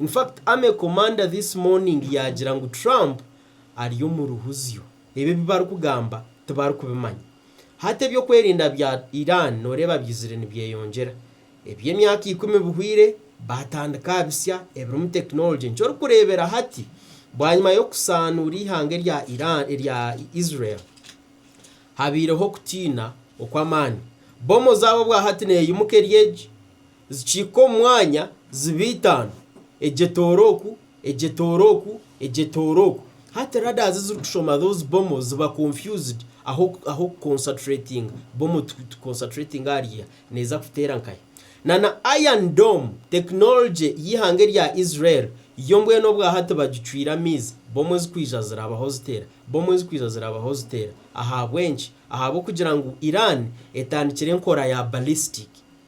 In fact army commander this morning yaagira ngu Trump ari omu ruhuzyo. Ebi ebi barikugamba tibarikubimanya. Hati eby'okwerinda bya Iran nooreeba byizire nibyeyongyera. Eby'emyaka ikumi bihweire baatandika aha bisya ebirimu technology nikyo orikureebera hati bwanyima y'okusaanuura eihanga erya Iran erya Israel habaireho okutiina okw'amaani. Bbomu zaabo bwahati neeyimuka eri egi. Zikihika omu mwanya, ziba itaano, egi etoora oku, egi etoora oku, egi etoora oku. Hati radars ezirikushoma those bomoz ziba confused ahu ahu oku concertratinga, bomo tu tu concertratinga ahari iha, neeza kuteera nkahi. Na na iron dome, technology y'eihanga erya Israel, yo mbwenu obwa hati bagicwire amaizi, bomo ezirikwija ziraabaho ziteera, bomo ezirikwija ziraabaho ziteera. Ahabw'enki? Ahabw'okugira ngu Iran etandikire enkora ya ballistic.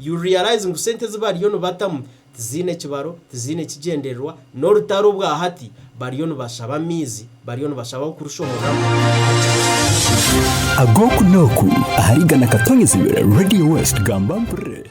You'll realize ngu sente ezi bariyo nibatamu tiziine kibaro, tiziine kigyendererwa, n'orutaro obwa hati bariyo nibashaba amaizi, bariyo nibashaba ah'okurushohoramu. Ag'oku n'oku ahari Igana Katonyizibwe Radio West gamba mpurire.